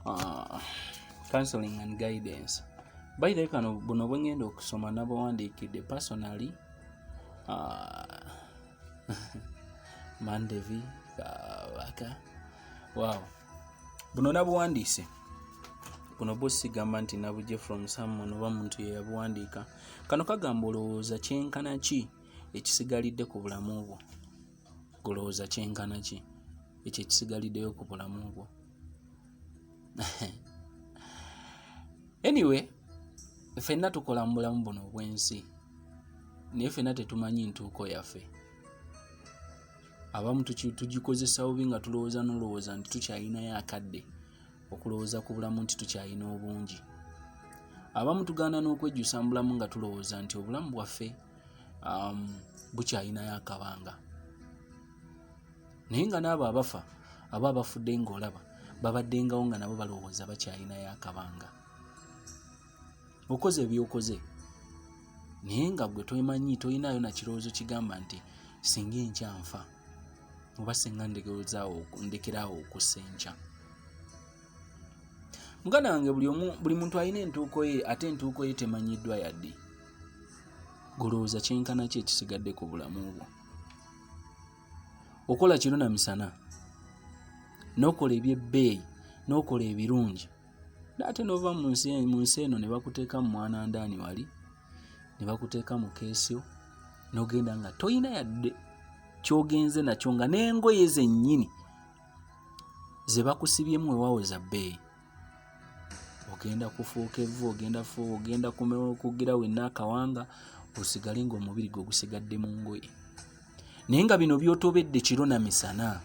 uh, counseling and guidance by the kano buno bwengenda okusoma nabawandiikidde personally uh, mandevi kabaka wow buno nabuwandiise buno bwo sigamba nti nabuje from someone oba muntu yeyabuwandiika kano kagamba olowooza kyenkana ki ekisigalidde ku bulamu bwo Olowooza kyenkana ki ekyo ekisigaliddeyo ku bulamu bwo? Anyway, ffenna tukola mu bulamu buno obw'ensi naye ffenna tetumanyi ntuuko yaffe. Abamu tugikozesa bubi nga tulowooza n'olowooza nti tukyalinayo akadde okulowooza ku bulamu nti tukyalina obungi. Abamu tugaana n'okwejjusa mu bulamu nga tulowooza nti obulamu bwaffe. um, bukyalinayo akabanga naye nga n'abo abafa aba abafudde ng'olaba babaddengawo nga nabo balowooza bakyalinayo akabanga okoze ebyokoze naye nga gwe tomanyi tolinayo nakirowoozo kigamba nti singa enkya nfa oba singa ndekeraawo okussa enkya muganda wange buli muntu alina entuuko ye ate entuuko ye temanyiddwa yadde golowooza kyenkana ki ekisigadde ku bulamu bwo okola kiro na misana n'okola ebyebbeeyi n'okola ebirungi naate nova mu nsi eno ne bakuteeka mu mwana ndaani wali ne bakuteeka mu keesyo n'ogenda nga tolina yadde kyogenze nakyo nga n'engoye zennyini ze bakusibyemu wewawo za bbeeyi ogenda kufuuka evvu ogenda fu ogenda kugira wenna akawanga osigale ngaomubiri gwe gusigadde mu ngoye naye nga bino byotobedde kiro na misana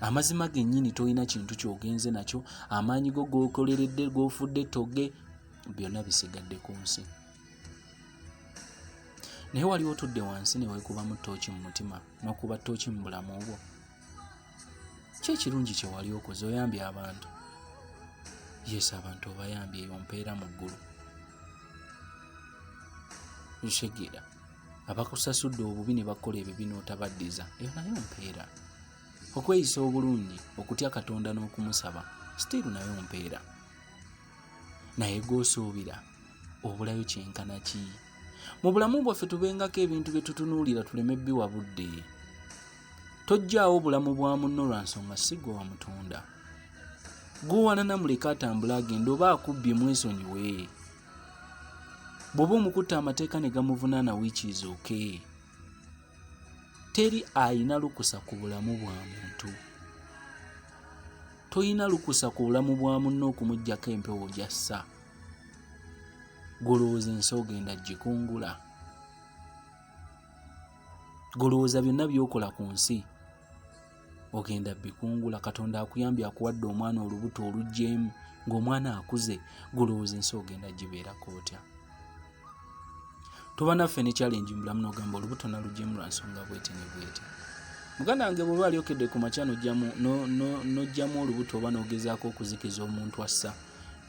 amazima gennyini tolina kintu kyogenze nakyo amaanyi go gokoleredde gofudde toge byonna bisigadde ku nsi naye waliwo otudde wansi newekubamu tooki mu mutima nokuba tooki mu bulamu obwo ki ekirungi kye wali okoze oyambye abantu yesu abantu obayambye eyo mpeera mu ggulu ntegeera abakusasudde obubi ne bakola ebibi n'otabaddiza eyo nayo mpeera okweyisa obulungi okutya katonda n'okumusaba sitiiru nayo mpeera naye gwosuubira obulayo kyenkana ki mu bulamu bwaffe tubengako ebintu bye tutunuulira tuleme biwa budde Tojjaawo bulamu bwa munno lwa nsonga si gwe wamutunda. Gwowanana muleke atambule agenda oba akubbye mwesonyiwe. Bw'oba omukutte amateeka ne gamuvunaana wiiki izooke. Teri alina lukusa ku bulamu bwa muntu. Tolina lukusa ku bulamu bwa munno okumuggyako empewo gy'assa. Gwolowooza ensi ogenda gikungula. golowooza byonna byokola ku nsi ogenda bikungula katonda akuyambye akuwadde omwana olubuto olugyemu ng'omwana akuze golowooza ensi ogenda gibeerako otya tuba naffe ne challenge mubulamu nogamba olubuto nalugyemu lwa nsonga bwete ne bwete muganda wange bwoba alyokedde ku makya nojjamu olubuto oba nogezaako okuzikiza omuntu assa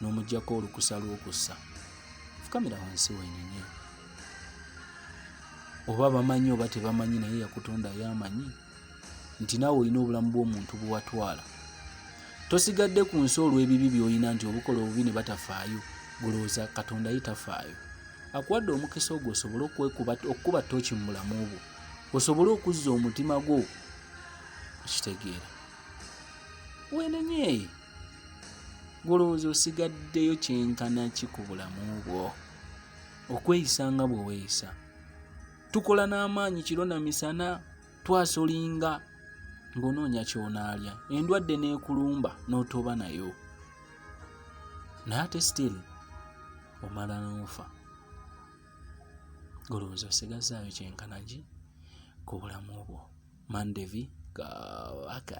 n'omugyako olukusa lw'okussa fukamira wansi wenenye oba bamanyi oba tebamanyi naye yakutonda yamanyi nti naawe olina obulamu bw'omuntu bwewatwala tosigadde ku nsi olw'ebibi byolina nti obukola obubi ne batafaayo gulowooza katonda ye tafaayo akuwadde omukisa ogwo osobole okukuba tooki mu bulamu bwo osobole okuzza omutima gwo okitegeera wenenyeeyi gulowooza osigaddeyo kyenkana ki ku bulamu bwo okweyisa nga bwe weeyisa tukola n'amaanyi kiro na misana twasolinga ng'onoonya ky'onaalya endwadde n'ekulumba n'otoba nayo naye ate still omala n'ofa golowooza osigazaayo kyenkanagi ku bulamu obwo mandevi kawaka